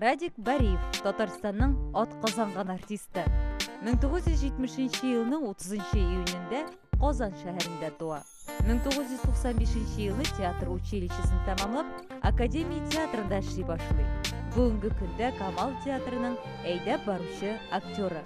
Радик Бариев, Татарстанның ат казанган артисты. 1970 елның 30 июнендә Казан шәһәрендә туа. 1995 елны театр училищесын тәмамлап, Академия театрында эшли башлый. Бүгенге көндә Камал театрының әйдәп баручы актеры.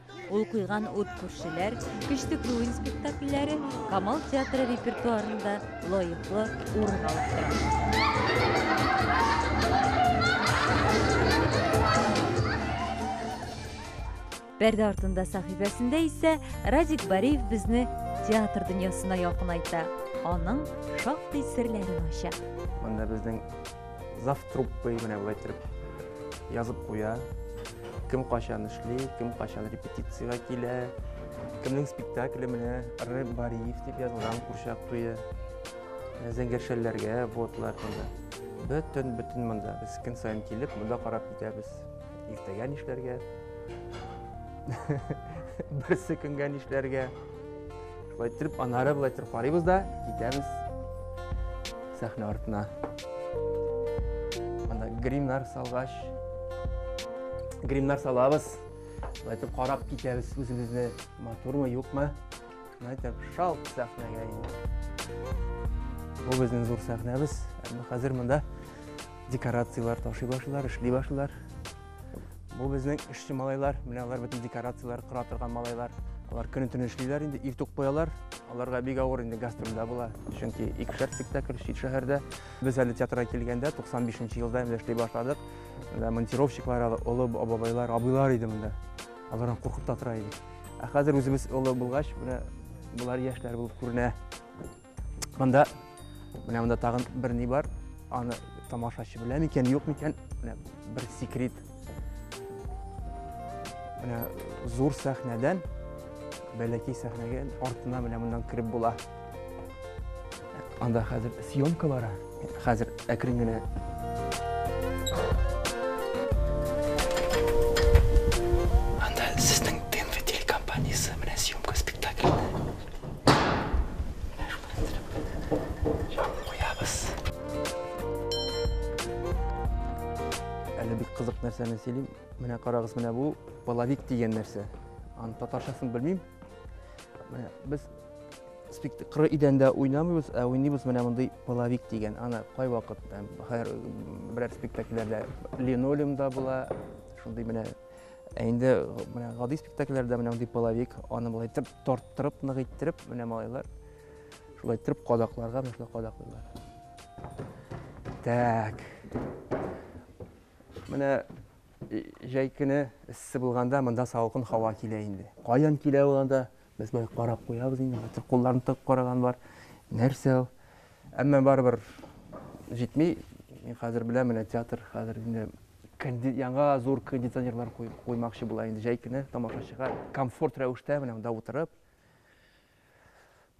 Ул куйган ут күршеләр, Көчтек Луин спектакльләре Камал театры репертуарында лаеклы урын алып тора. Пәрдә артында сәхифәсендә исә Радик Бариев безне театр дөньясына якынайта, аның шактый серләрен ача. Монда безнең Зав труппы менә болай иттереп язып куя. Кем качан эшли, кем качан репетициягә килә, кемнең спектакле менә Р. Бариев дип язылган курчак туе. Зәңгәршәлләргә ботлар монда. Бөтен бөтен монда. Без көн саен килеп, монда карап китәбез. Иртәгә нишләргә? Берсе көнгә нишләргә? Шулай итеп, анары былай итеп карыйбыз да, китәбез сәхнә артына. Анда гримнар салгач, гримнар салабыз. Шулай итеп карап китәбез үзебезне, матурмы, юкмы? Шулай итеп шалт сәхнәгә инде. Бу безнең зур сәхнәбез. Әмма хәзер монда декорацияләр ташый башлыйлар, эшли башлыйлар. Бу безнең эшче малайлар, менә алар бөтен декорацияләр кыра торган малайлар. Алар көне төне эшлиләр инде, иртүк куялар. Аларга бик авыр инде гастрольдә була. Чөнки икешәр спектакль чит шәһәрдә. Без әле театрга килгәндә 95 нче елда инде эшли башладык. Менә монтировщиклар, олы бабайлар, абыйлар иде монда. Алардан куркып та тора идек. Ә хәзер үзебез олы булгач, менә болар яшьләр булып күренә. Монда менә монда тагын бер ни бар. Аны тамашачы белә микән, юк микән? Менә бер секрет. Менә зур сәхнәдән бәләкәй сәхнәгә артына менә моннан кереп була. Анда хәзер съемка бара. Хәзер әкрен генә Анда сезнең ТНВ телекомпаниясе менә съемка спектакльне. Куябыз. Әле бик кызык нәрсәне сөйлим. Менә карагыз, менә бу половик дигән нәрсә. Аны татарчасын белмим. Менә без Коры идәндә уйнамыйбыз, ә уйныйбыз менә мондый половик дигән. Аны кайвакыт хәер берәр спектакльләрдә линолеумда була, шундый менә ә инде менә гади спектакльләрдә менә мондый половик, аны болай итеп тарттырып, нык иттереп, менә малайлар шулай иттереп кадакларга менә шулай кадаклыйлар. Так. Менә җәй көне эссе булганда монда салкын һава килә инде. Каян килә ул анда? Без болай карап куябыз инде, хәтта кулларын тыгып караган бар. Нәрсә ул? Әмма барыбер җитми. Мин хәзер беләм, менә театр хәзер инде конди- яңа зур кондиционерлар куй- куймакчы була инде җәй көне тамашачыга комфорт рәвештә менә монда утырып.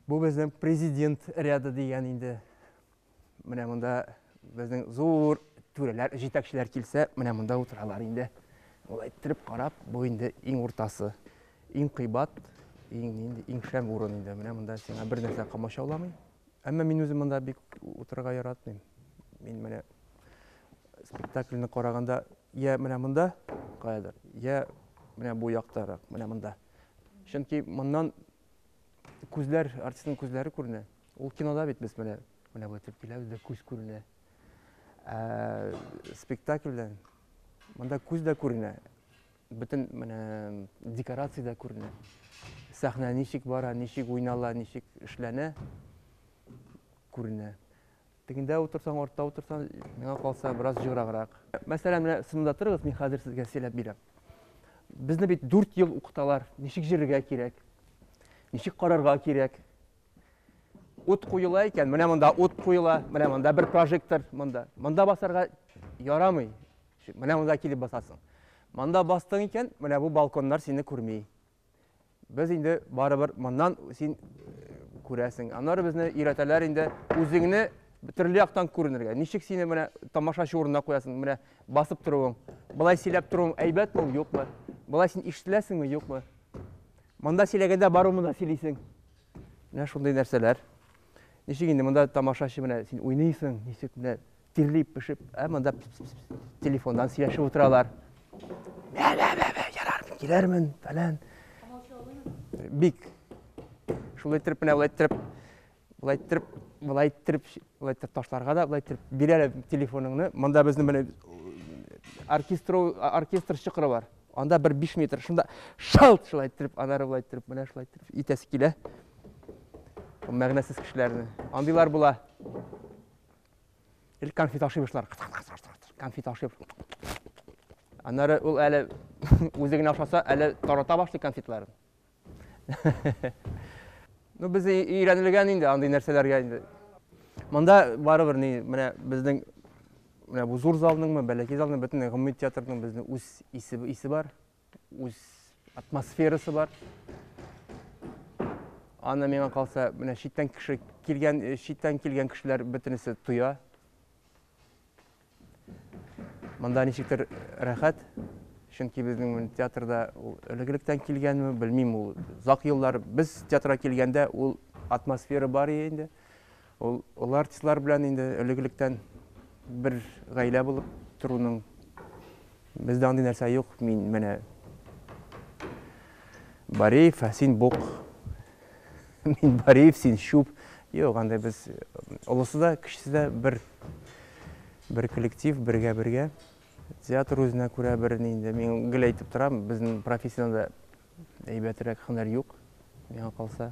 Бу безнең президент ряды дигән инде. Менә монда безнең зур түрәләр, җитәкчеләр килсә, менә монда утыралар инде. Ул әйттереп карап, бу инде иң уртасы. Иң кыйбат, иң инде иң шәм урын инде. Менә монда сиңа бер нәрсә камачауламый. Әмма мин үзем монда бик утырырга яратмыйм. Мин менә спектакльне караганда я менә монда каядыр, я менә бу яктарак, менә монда. Чөнки моннан күзләр, артистның күзләре күренә. Ул кинода бит без менә менә бу итеп киләбез дә күз күренә. Ә спектакльдә монда күз дә күренә. Бөтен менә декорация дә күренә. Сәхнә ничек бара, ничек уйнала, ничек эшләнә күренә. Тегендә утырсаң, артта утырсаң, миңа калса, бераз җыграграк. Мәсәлән, менә сынында торыгыз, мин хәзер сезгә сөйләп бирәм. Безне бит дүрт ел укыталар, ничек җөрергә кирәк, ничек карарга кирәк. Ут куела икән, менә монда ут куела, менә монда бер прожектор, монда. Монда басарга ярамый. Менә монда килеп басасың. Монда бастың икән, менә бу балконнар сине күрми. Без инде барыбер моннан син күрәсең. Аннары безне өйрәтәләр инде үзеңне төрле яктан күренергә. Ничек сине менә тамашачы урынына куясың, менә басып торуың, былай сөйләп торуың әйбәтме, юкмы? Былай син ишетеләсеңме, юкмы? Монда сөйләгәндә бару монда сөйлисең. Менә шундый нәрсәләр. Ничек инде монда тамашачы менә син уйныйсың, ничек менә Тирләп пешеп, ә монда телефондан сөйләшеп утыралар. Бә, бә, бә, бә, ярар, киләрмен, фәлән. Бик. Шулай итеп менә болай итеп, болай итеп, болай итеп, болай итеп ташларга да, болай итеп бирәләр телефоныңны. Монда безнең менә оркестр оркестр чыкыры бар. Анда бер 5 метр шунда шалт шулай итеп, анары болай итеп, менә шулай итеп итәсе килә. Мәгънәсез кешеләрне. Андыйлар була. Или конфет ашый башлар. Конфет ашый. Аннары ул әле үзе генә ашаса, әле тарата башлый конфетларын. Ну, без өйрәнелгән инде андый нәрсәләргә инде. Монда барыбер ни, менә безнең менә бу зур залныңмы, бәләкәй залның бөтен гомуми театрның безнең үз исе исе бар. үз атмосферасы бар аны миңа калса менә читтән кеше килгән э, читтән килгән кешеләр бөтенесе тоя монда ничектер рәхәт чөнки безнең театрда ул элегелектән килгәнме белмим ул озак еллар без театрга килгәндә ул атмосфера бар иде инде Ул олы артистлар белән инде элек-электән бер гаилә булып торуның бездә андый нәрсә юк. Мин менә Бареев, ә син бук. Мин Бареев, син чүп. Юк, анда без олысы да, кечесе дә бер бер коллектив, бергә-бергә. Театр үзенә күрә бер инде. Мин гел әйтеп торам, безнең профессиядә әйбәтрәк һөнәр юк, миңа калса.